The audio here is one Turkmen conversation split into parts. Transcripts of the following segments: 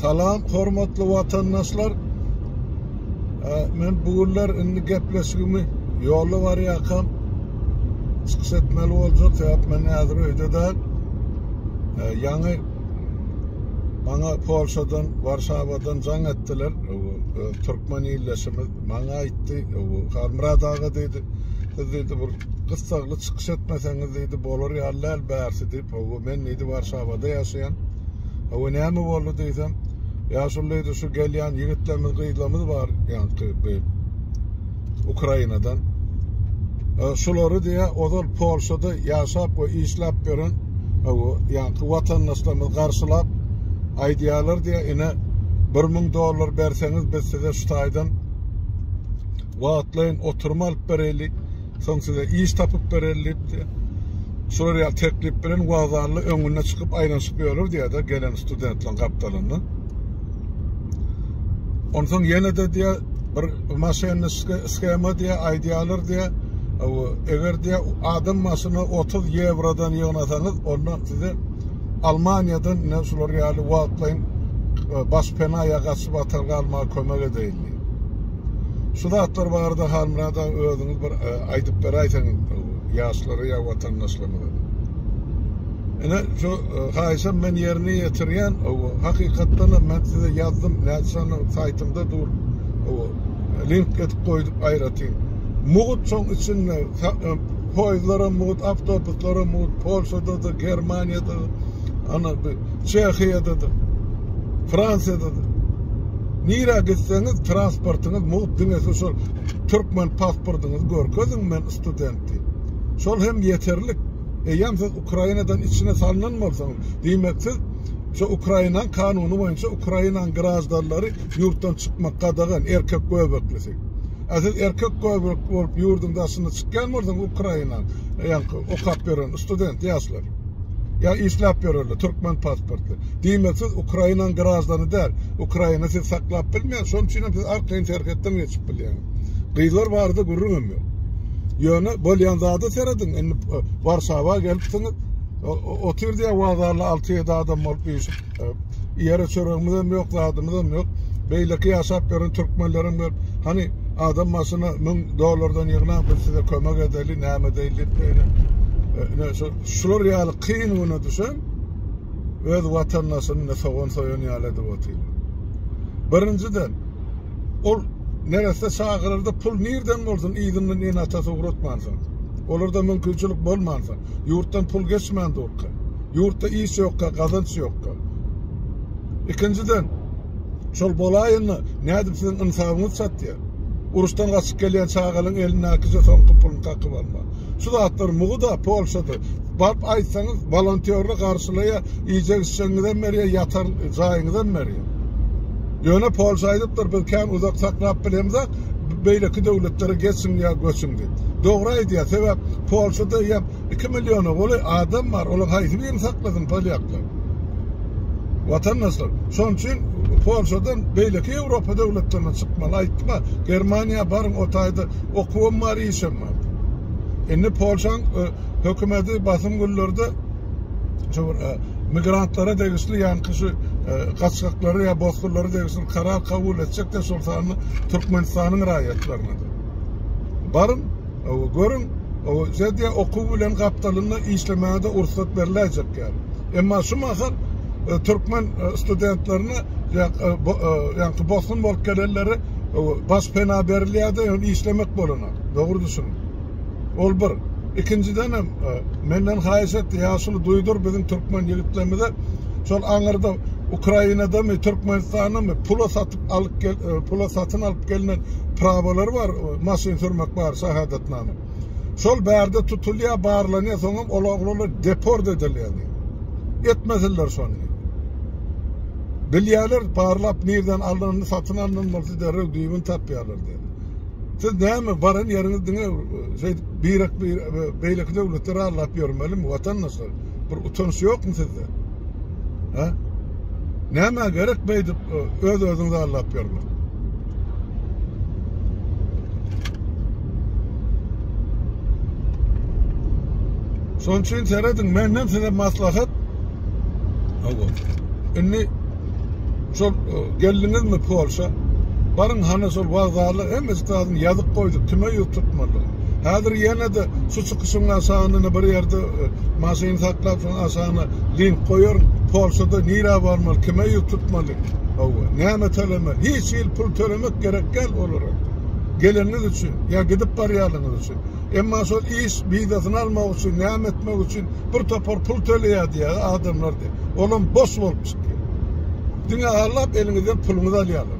Salam hormatly watandaşlar. Men bu günler indi gepleşigimi ýola barýarkam çykyş etmeli boljak. Sebäp men häzir öýde däl. Ýaňy maňa Polşadan, Warşawadan jaň etdiler. Türkmen illeşimiz maňa aýtdy, Halmyrat aga diýdi. Siz diýdi bir gyssagly çykyş etmeseňiz diýdi, bolar ýaly däl bärsi diýip. Howwa men diýdi Warşawada ýaşaýan. Howwa näme boldy diýsem, ýaşuly diýdi şu gelýän ýigitlerimiz gyzlarymyz bar ýaňky bi Ukrainadan. E, şulary diýä ozal Polşada ýaşap we işläp ýören howwa ýaňky watandaşlarymyz garşylap aýdýarlar diýä ine 1000 dollar berseňiz biz size şu taýdan wagtlaýyn oturma alyp bereli. Soň size iş tapyp bererin diýipdi. Şular ýaly teklip bilen wokzalda öňüne çykyp aýlanyşyp ýörür diýýärdi gelen studentleriň gapdalynda. Onsoň ýene de diýýär, bir maşenniçki skema diýýär, aýdýarlar diýýär, eger diýýär adam başyna 30 ýewrodan ýygnasaňyz, onda size Almaniýadan ine şular ýaly wagtlaýyn e, baş pena ýa gaçyp atalga almaga kömek edeýin diýýär. Şu zatlar barada Halmyrat aga özüňiz bir e, aýdyp beräýseň ýaşlara ýa watandaşlarymyza. Ene şu e, haýyşam men ýerine ýetirýän. Hakykatdan hem men size ýazdym, näçäni saýtymda dur. Link etip goýdup aýratyn. Mugut şoň içinde e, poýzlara mugut, awtobuslara mugut, Polşada da, Germaniýada ana Çehiýadadyr, Fransiýadadyr. Nirä gitseňiz transportyňyz mugt diňe siz şol türkmen pasportyňyzy görkeziň men student diýip. Şol hem ýeterlik. Eýýäm siz Ukrainadan içine salnan bolsaňyz, diýmek siz şu Ukrainaň kanuny boýunça Ukrainaň graždanlary ýurtdan çykmak gadagan, erkek göbeklisi. A siz erkek göbekli bolup ýurduň daşyna çykýan bolsaňyz Ukrainaň, ýaňky okap ýören student ýaşlar. Ýa işläp ýörerler, türkmen pasportly. Diýmek siz Ukrainaň graždany däl. Ukraina sizi saklap bilmeýär, şonuň üçinem siz arkaýyn serhetden geçip bilýäňiz. Gyzlar barada gürrüňem ýok. Ýöne bolýan zada serediň, indi Warşawa gelipsiňiz, o, o, otyr diýýär wagzalda alty-ýedi adam bolup üýşüp. Ýere çöregimizem ýok, zadymyzam ýok. Beýleki ýaşap ýören türkmenlerem gelip, hany adam başyna 1000 dollardan ýygnaň, biz size kömek edeli, näme edeýin diýip beýle. Ine şu şular ýaly kyn güne düşen öz watandaşyny ine sogan soýan ýaly edip otyr. Birinjiden ol neresse çagyrarda pul nirden bolsun yzyndan ene-atasy ugratmansoň. Olarda mümkinçilik bolmansoň. Ýurtdan pul geçmän durka. Ýurtda iş ýokka, gazanç ýokka. Ikinjiden, şol bolaýanda nädip siziň ynsabyňyz çatýar? Uruşdan gaçyp gelýän çagalyň elindäkije soňky puluny kakyp almak. Şu zatlar mugy-da Polşada. Baryp aýtsaňyz, wolontýorlar garşylaýar, iýjek-içjegiňizem berýär, ýatar jaýyňyzam berýär. Ýöne Polşa aýdypdyr, biz kän uzak saklap bilemzok, beýleki döwletlere geçiň ýa göçüň diýip. Dogry aýdýar sebäp Polşada ýap iki milliona goly adam bar olar haýsy birini saklasyn polýaklar. Watandaşlar şonuň üçin Polşadan beýleki Ýewropa döwletlerine çykmaly aýtdyma Germaniýa baryň o taýda okuwam bar işem bar. Indi Polşaň hökümeti basym günlerde şu bir migrantlara degişli ýaňky şu gaçgaklary ýa bozkurlara degişli karar kabul etjek-de şol sanda Türkmenistanyň raýatlaryna-da. Baryň, görüň, Zediýa okuw bilen gapdalynda işlemäge-de ursat beriläýjek ýaly. Emma şu mahal türkmen studentlerine ýaňky bosgun bolup gelenlere baş pena berilýär-de, ýöne işlemek bolanok. Dogry düşüniň. Ol bir. Ikinjidenem, menden haýyş etdi, Ýaşuly, duýdur biziň türkmen ýigitlerimize, şol aňyrda Ukrainadamy, Türkmenistandamy pula satyp alyp gel, e, pula satyn alyp gelinen prawalar bar, e, maşyn sürmek bar, şahadatnama. Şol bärde tutulýar, barlanýar, soňam ol oglanlar deport edilýär. Etmesinler şony. Bilýärler, barlap nirden alnyny satyn alnan bolsa derrew düýbüni tapýarlar diýip. Siz näme baran ýeriňiz diňe e, şeýdip birek bir e, beýleki döwletleri allap ýörmelimi watandaşlar? Bir utanç ýokmy sizde? Ha? Näme gerek beýdip e, öz-özüňizi allap ýörmek? Şonuň üçin serediň, menden size maslahat. Hawa. Indi şol e, geldiňizmi Polşa? Baryň hana şol wagzala hemmesi taýdan ýazyk goýdup, kime ýüz tutmaly. Häzir ýene-de şu Şuň aşagyna bir ýerde maşyny saklap şuň aşagyna link goýaryn. Polşada nirä barmaly, kime ýüz tutmaly, hawa, näme tölemeli. Hiç hili pul tölemek gerek däl olara. Geleniňiz üçin ýa gidip barýanlygyňyz üçin. Emma şol iş wizasyny almak üçin, näme etmek üçin bir topar pul töleýär diýýärler adamlar diýip. Olam boş bolup çykýar. Diňe agzap eliňizden puluňyzy alýarlar.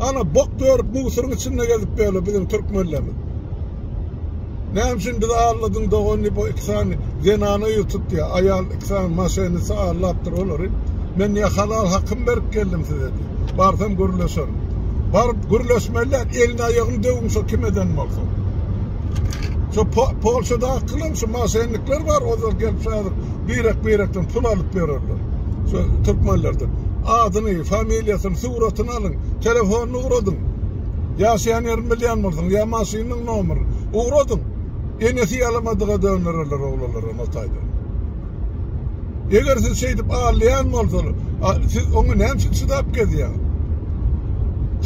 Ana bok görüp musuryň içinde gezip ýörler biziň türkmenlerimiz. Näme üçin bizi alladyň dogan diýip o iki sany zenana ýüz tutýa. Aýal iki sany maşenisi allapdyr olary. Men diýä halal hakym berip geldim size diýip. Barsam gürleşerin. Baryp gürleşmeli däl elini aýagyny döwüň şo kim eden bolsa. Şo polşadakylar şu maşennikler bar ozal gelip şaýar birek birekden pul alyp ýörerler. Şu türkmenlerden. Adyny, familiýasyny Suratyny alyň. Telefonyny ugradyň. Ýaşaýan ýerini bilýän bolsaň, ýa maşynyň nomerini. Ugradyň. Enesi ýalamadyga döndererler oglanlaram o taýdan. Eger siz şeýdip allaýan bolsaňyz, siz oňa näme üçin çydap gezýäňiz?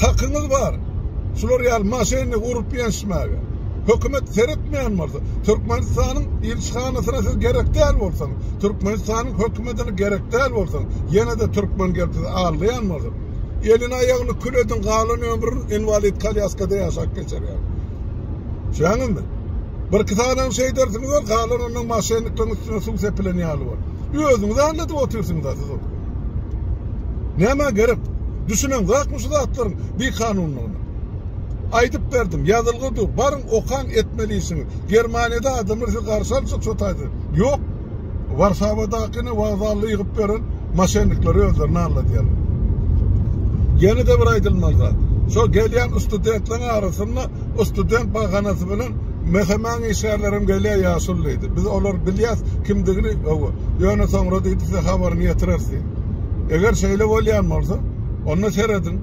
Hakyňyz bar. Şular ýaly maşyny urup ýençmäge. Hökümet seretmeýän bolsa, Türkmenistanyň ilçihanasyna siz gerek däl bolsaňyz. Türkmenistanyň hökümetini gerek däl bolsa, ýene-de türkmen gelip sizi aldaýan bolsa, elini-aýagyny kül ediň, galan ömrüni inwalid kolýaskada ýaşap geçirýär. Düşýäňizmi? Birki sanyny şeýdersiňiz-de, galan ondan maşennikleriň üstüne suw sepilen ýaly bor. Özüňizi aldadyp otyrsyňyz-a siz ol. Nämä gerek? Düşüneňzakmy şu zatlaryň bikanunlygyna? Aýdyp berdim, ýazylgy dur, baryň, okaň, etmeli işiňi. Germaniýada adamlar sizi garşy alyjak şo taýda. Ýok, Warsawadakyny wokzalda ýygyp beren moşennikleri özlerini alladýarlar. Ýene-de bir aýdylmaly zat, şo gelýän ustudentleriň arasynda ustudent bahanasy bilen mehemäň işgärlerem gelýär, ýaşuly diýdi. Biz olary bilýäs, kimdigini, hawa, ýöne soňra diýdi, size habaryny ýetireris diýdi. Eger şeýle bolýan bolsa, onda serediň,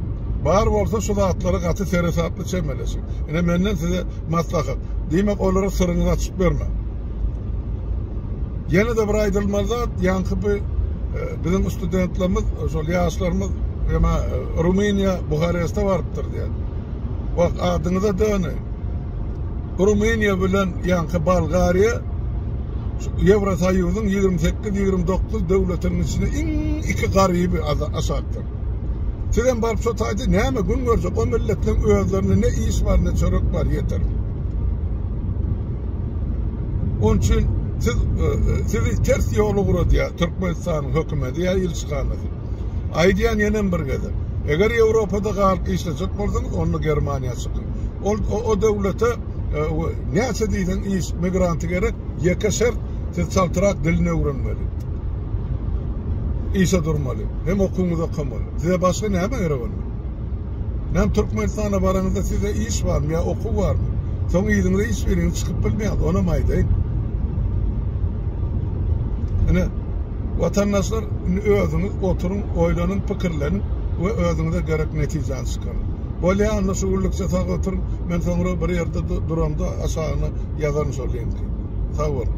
bar bolsa şu zatlara gaty seresaply çemeleşiň. Ine menden size maslahat, diýmek olara syryňyzy açyp bermäň. Ýene-de bir aýdylmaly zat, ýaňky bu e, biziň studentlerimiz, şol ýaşlarymyz ýa e, Rumyniýa, Buhareste barypdyr diýen. Bak adyňyza döne. Rumyniýa bilen ýaňky Bolgariýa Ýewrosoýuzyň 28-29 döwletiniň içinde iň iki garyby aşakdyr. Sizem baryp şu taýda näme gün görjek? O milletleriň özlerinde ne iş bar, ne çörek bar, ýeter. Onuň üçin siz e, e, sizi ters ýola guradýar Türkmenistanyň hökümeti ýa ilçihanasy. Aýdýan ýene bir gezek. Eger Ýewropada galyp işlejek bolsaňyz, onda Germaniýa çykyň. Ol o, o döwlete e, näçe diýseň iş migranty gerek, ýeke şert siz çaltyrak dilini öwrenmeli. Işe durmaly. Hem okuwyňyzy okamaly. Size başga näme gerek onda? Näme Türkmenistana baraňyzda sizde iş barmy ýa okuw barmy? Soň yzyňyza iş beriňiz çykyp bilmeýäňiz onam aýdaýyn. Ine watandaşlar indi özüňiz oturyň, oýlanyň, pikirleniň we özüňize gerek netijäni çykaryň. Bolýa onda şu günlükçe sag oturyň. Men soňra bir ýerde duramda aşagyna ýazaryn şol linki. Sag boluň.